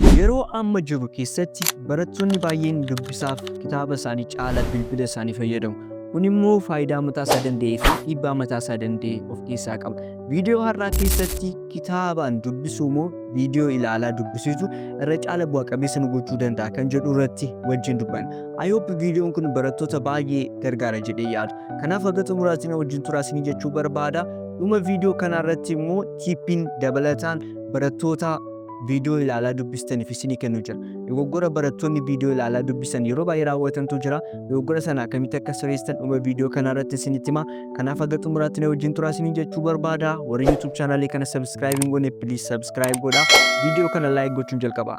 Yeroo amma jiru keessatti barattoonni baay'een dubbisaaf kitaaba isaanii caala bilbila isaanii fayyadamu. Kun immoo faayidaa mataa isaa danda'ee fi dhiibbaa mataa isaa danda'e of keessaa qaba. Viidiyoo har'aa keessatti kitaabaan dubbisuu moo viidiyoo ilaalaa dubbisiisu irra caala bu'a qabeessa nu gochuu danda'a kan jedhu irratti wajjin dubbanna. I hope viidiyoon kun barattoota baay'ee gargaara jedhee yaada. Kanaaf haga xumuraatti na wajjin turaa isinii jechuu barbaada. Dhuma viidiyoo kanaa irratti immoo tiippiin dabalataan barattoota viidiyoo ilaalaa dubbistaniif isinii kennu jira. Dogoggora barattoonni viidiyoo ilaalaa dubbisan yeroo baay'ee raawwatantu jira. Dogoggora sana akkamitti akka sirreessitan dhuma viidiyoo kanaa irratti isinitti hima. Kanaaf haga xumuraatti na wajjin turaa isiniin jechuu barbaada. Warri YouTube chaanaalii kana subscribe hin goone please subscribe godhaa. Viidiyoo kana like gochuun jalqabaa.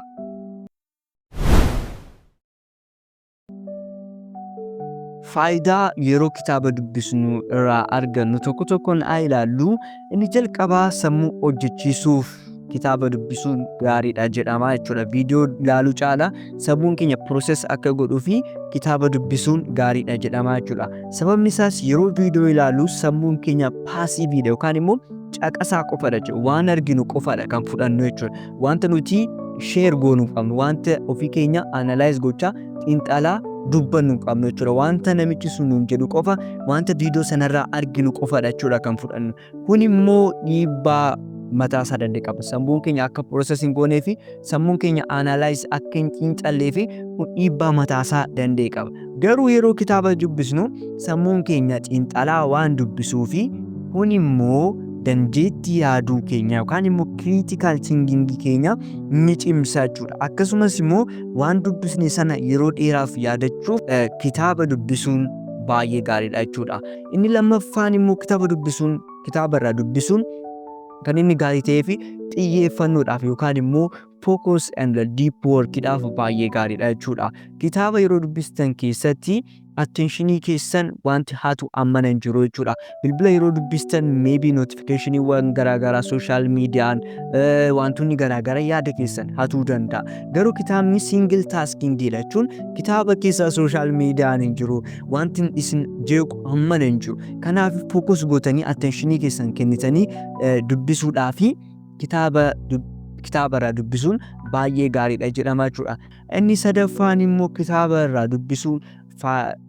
Faayidaa yeroo kitaaba dubbisnu irraa argannu tokko tokkoon haa ilaallu. Inni jalqabaa sammuu hojjechiisuuf kitaaba dubbisuun gaariidha jedhama jechuudha. Viidiyoo ilaaluu caala sammuun keenya pirooses akka godhuu fi kitaaba dubbisuun gaariidha jedhama jechuudha. Sababni isaas yeroo viidiyoo ilaallu sammuun keenya paasiiviidha yookaan immoo caqasaa qofadha jechuudha. Waan arginu qofadha kan fudhannu jechuudha. Wanta nuti share goonu hin qabnu. Wanta ofii keenya analyze gochaa xiinxalaa dubbannu hin qabnu jechuudha. Wanta namichi sun nuun jedhu qofa, wanta viidiyoo sanarraa arginu qofadha jechuudha kan fudhannu. Kun immoo dhiibbaa mataa isaa danda'e qaba. Sammuun keenya akka process hin goonee fi sammuun keenya analyze akka hin xiinxallee fi kun dhiibbaa mataa isaa danda'e qaba. Garuu yeroo kitaaba dubbisnu sammuun keenya xiinxalaa waan dubbisuu fi kun immoo dandeettii yaaduu keenya yookaan immoo critical thinking keenya ni cimsa jechuudha. Akkasumas immoo waan dubbisne sana yeroo dheeraaf yaadachuuf eh, kitaaba dubbisuun baay'ee gaariidha jechuudha. Inni lammaffaan immoo kitaaba dubbisuun kitaaba irraa dubbisuun kan inni gaarii ta'ee fi xiyyeeffannoodhaaf yookaan immoo focus and deep work dhaaf baay'ee gaariidha jechuudha. Kitaaba yeroo dubbistan keessatti attentionii keessan wanti hatu ammana hin jiru jechuudha. Bilbila yeroo dubbistan maybe notificationiiwwan garaagaraa social mediaan wantoonni garaagara yaada keessan hatuu danda'a. Garuu kitaabni single tasking dha jechuun kitaaba keessa social mediaan hin jiru. Wanti isin jeequ ammana hin jiru. Kanaaf focus gootanii attentionii keessan kennitanii dubbisuudhaa fi kitaaba kitaaba irraa dubbisuun baay'ee gaariidha jedhama jechuudha. Inni sadaffaan immoo kitaaba irraa dubbisuun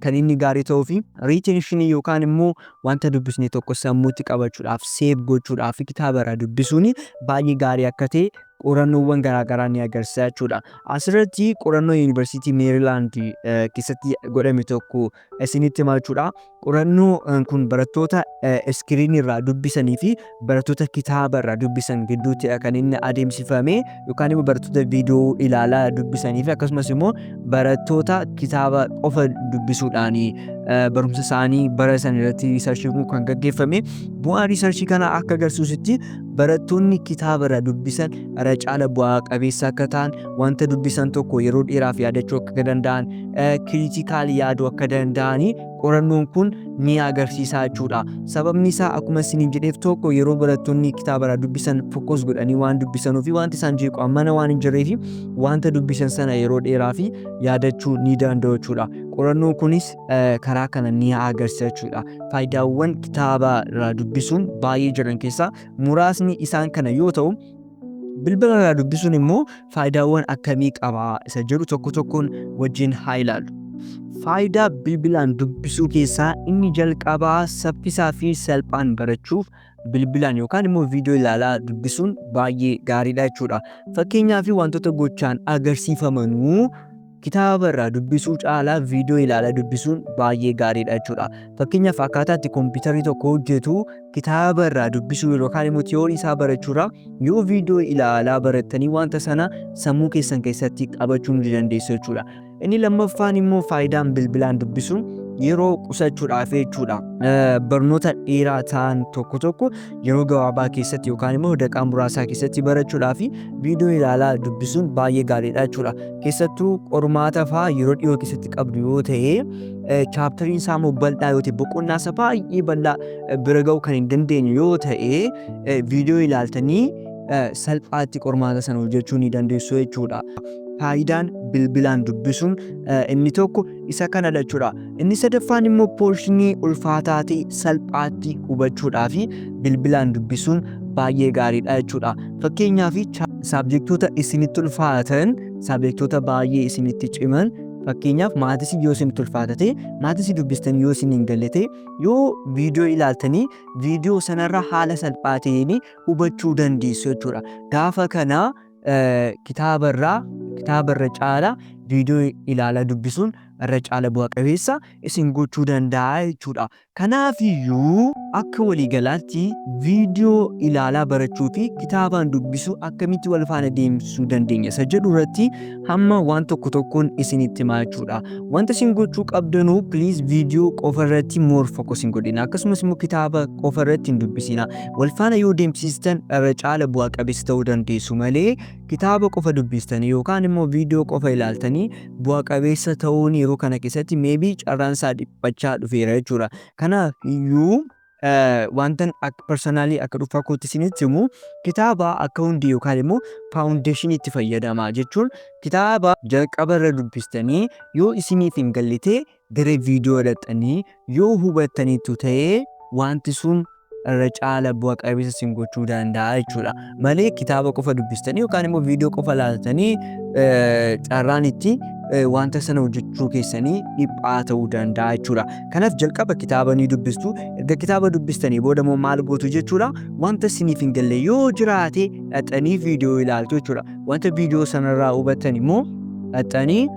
kan inni gaarii ta'uu fi riitenshinii yookaan immoo wanta dubbisne tokko sammuutti qabachuudhaaf seef gochuudhaaf fi kitaaba irraa dubbisuun baay'ee gaarii akka ta'e qorannoowwan garaagaraa ni agarsiisa jechuudha. Asirratti qorannoo yuunivarsiitii Meerilaand keessatti godhame tokko isinitti hima jechuudha. Qorannoo kun barattoota iskiriinii irraa dubbisanii fi barattoota kitaaba irraa dubbisan gidduutti kan inni adeemsifame yookaan immoo barattoota viidiyoo ilaalaa dubbisanii fi akkasumas immoo barattoota kitaaba qofa dubbisuudhaan barumsa isaanii bara san irratti riisarchii kun kan gaggeeffame bu'aan riisarchii kana akka agarsiisutti barattoonni kitaaba irraa dubbisan irra caala bu'aa qabeessa akka ta'an wanta dubbisan tokko yeroo dheeraaf yaadachuu akka danda'an kiriitikaal yaaduu akka danda'anii qorannoon kun ni agarsiisaa jechuudha. Sababni isaa akkuma isiniin jedheef tokko yeroo barattoonni kitaaba irraa dubbisan fokkos godhanii waan dubbisanuu fi wanti isaan jeequ ammana waan hin jirree fi wanta dubbisan sana yeroo dheeraa fi yaadachuu ni danda'u jechuudha. Qorannoon kunis karaa kana ni agarsiisa jechuudha. Faayidaawwan kitaaba irraa dubbisuun baay'ee jiran keessaa muraasni isaan kana yoo ta'u bilbila irraa dubbisuun immoo faayidaawwan akkamii qaba isa jedhu tokko tokkoon wajjin haa ilaallu. Faayidaa bilbilaan dubbisuu keessaa inni jalqabaa saffisaa fi salphaan barachuuf bilbilaan yookaan immoo viidiyoo ilaalaa dubbisuun baay'ee gaariidha jechuudha. Fakkeenyaa fi wantoota gochaan agarsiifamanuu Kitaaba irraa dubbisuu caalaa viidiyoo ilaalaa dubbisuun baay'ee gaariidha jechuudha. Fakkeenyaaf akkaataa itti kompiitarri tokko hojjetu kitaaba irraa dubbisuu yookaan immoo tiyoorii isaa barachuurraa yoo viidiyoo ilaalaa barattanii wanta sana sammuu keessan keessatti qabachuu ni dandeessu jechuudha. Inni lammaffaan immoo faayidaan bilbilaan dubbisuun yeroo qusachuudhaaf jechuudha. Barnoota dheeraa ta'an tokko tokko yeroo gabaabaa keessatti yookaan immoo daqaa muraasaa keessatti barachuudhaa fi viidiyoo ilaalaa dubbisuun baay'ee gaariidha jechuudha. Keessattuu qormaata fa'aa yeroo dhiyoo keessatti qabdu yoo ta'e chaaptariin isaa immoo bal'aa yoo ta'e boqonnaa isaa baay'ee bal'aa bira ga'uu kan hin dandeenye yoo ta'e viidiyoo ilaaltanii salphaatti qormaata sana hojjechuu ni dandeessu jechuudha. Faayidaan bilbilaan dubbisuun inni tokko Isa kana lachuudha. Inni sadaffaan immoo poorshinii ulfaataa ta'e salphaatti hubachuudhaa fi bilbilaan dubbisuun baay'ee gaariidha jechuudha. Fakkeenyaaf saabjektoota isinitti ulfaatan, saabjektoota baay'ee isinitti ciman fakkeenyaaf maatisii yoo isinitti ulfaata ta'e, maatisii dubbistanii yoo isin hin galle ta'e, yoo viidiyoo ilaaltanii viidiyoo sanarra haala salphaa ta'een hubachuu dandeessu jechuudha. Gaafa kana kitaaba irraa kitaaba irra caala viidiyoo ilaalaa dubbisuun irra caala bu'a qabeessa isin gochuu danda'a jechuudha. Kanaaf iyyuu akka waliigalaatti viidiyoo ilaalaa barachuu fi kitaabaan dubbisuu akkamitti wal faana deemsisuu dandeenya isa jedhu irratti hamma waan tokko tokkoon isinitti himaa jechuudha. Wanta isin gochuu qabdanuu please viidiyoo qofa irratti more focus hin godhina akkasumas immoo kitaaba qofa irratti hin dubbisina. Walfaana yoo deemsistan irra caala bu'a qabeessa ta'uu dandeessu malee kitaaba qofa dubbistanii yookaan immoo viidiyoo qofa ilaaltanii bu'a qabeessa ta'uun yeroo kana keessatti meebii carraan isaa dhiphachaa dhufeera jechuudha. Kanaaf iyyuu wantan akka parsanaalii akka dhuunfaa kootti isinitti himu kitaaba akka hundee yookaan immoo faawundeeshiniitti fayyadamaa jechuun kitaaba jalqaba irra dubbistanii yoo isiniif hin gallitee gara viidiyoo dhaqxanii yoo hubattaniittu ta'ee wanti sun irra caala bu'a qabeessa isin gochuu danda'a jechuudha. Malee kitaaba qofa dubbistanii yookaan immoo viidiyoo qofa laaltanii carraan itti wanta sana hojjechuu keessanii dhiphaa ta'uu danda'a jechuudha. Kanaaf jalqaba kitaaba ni dubbistu. Erga kitaaba dubbistanii booda immoo maal gootu jechuudha. Wanta isiniif hin galle yoo jiraate dhaqxanii viidiyoo ilaaltu jechuudha. Wanta viidiyoo sanarraa hubattan immoo dhaqxanii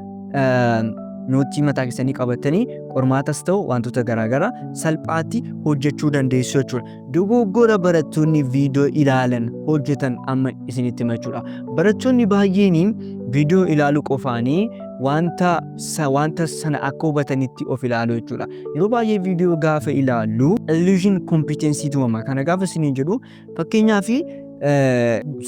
noottii mataa keessanii qabattanii qormaatas ta'u wantoota garaagaraa salphaatti hojjechuu dandeessu jechuudha. Dogoggora barattoonni viidiyoo ilaalan hojjetan amma isinitti hima jechuudha. Barattoonni baay'een viidiyoo ilaaluu qofaanii wanta sa- wanta sana akka hubatanitti of ilaalu jechuudha. Yeroo baay'ee viidiyoo gaafa ilaallu illusion competency tumama. Kana gaafa isiniin jedhu Fakkeenyaaf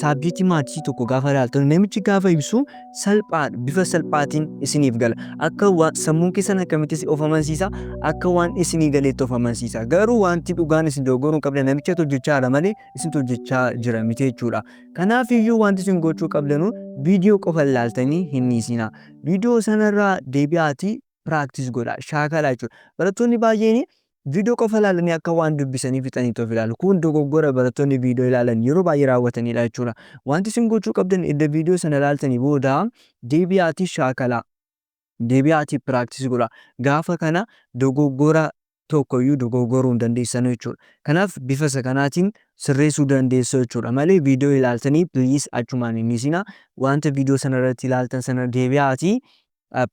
saabjeektii maatii tokko gaafa ilaaltan namichi gaafa ibsu salphaa bifa salphaatiin isiniif gala. Akka waan sammuun keessan akkamittis of amansiisa akka waan isinii galeetti of amansiisa. Garuu wanti dhugaan isin dogoggoruu hin qabdan namicha hojjechaa jira malee isin hojjechaa jira miti jechuudha. Kanaaf iyyuu wanti isin gochuu qabdanu viidiyoo qofa ilaaltanii hin dhiisinaa. Viidiyoo sanarraa deebi'aatii practice godhaa, shaakalaa jechuudha. Barattoonni baay'een viidiyoo qofa ilaalanii akka waan dubbisanii fixaniitti of ilaalu. Kun dogoggora barattoonni viidiyoo ilaalan yeroo baay'ee raawwatanidha jechuudha. Wanti isin gochuu qabdan erga viidiyoo sana ilaaltanii booda deebi'aatii shaakalaa, deebi'aatii practice godhaa. Gaafa kana dogoggora tokko iyyuu dogoogoruu hin dandeessanu jechuudha. Kanaaf bifa isa kanaatiin sirreessuu dandeessu jechuudha malee viidiyoo ilaaltanii please achumaan hin dhiisinaa. Wanta viidiyoo sana irratti ilaaltan sana deebi'aatii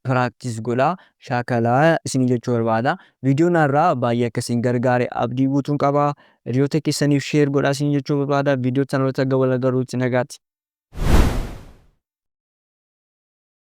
practice godhaa shaakalaa isinii jechuu barbaada. Viidiyoon har'aa baay'ee akka isin gargaare abdii guutuun qaba. Hiriyoota keessaniif share godhaa isinii jechuu barbaada. Viidiyoo sana irratti hanga wal agarruutti nagaatti.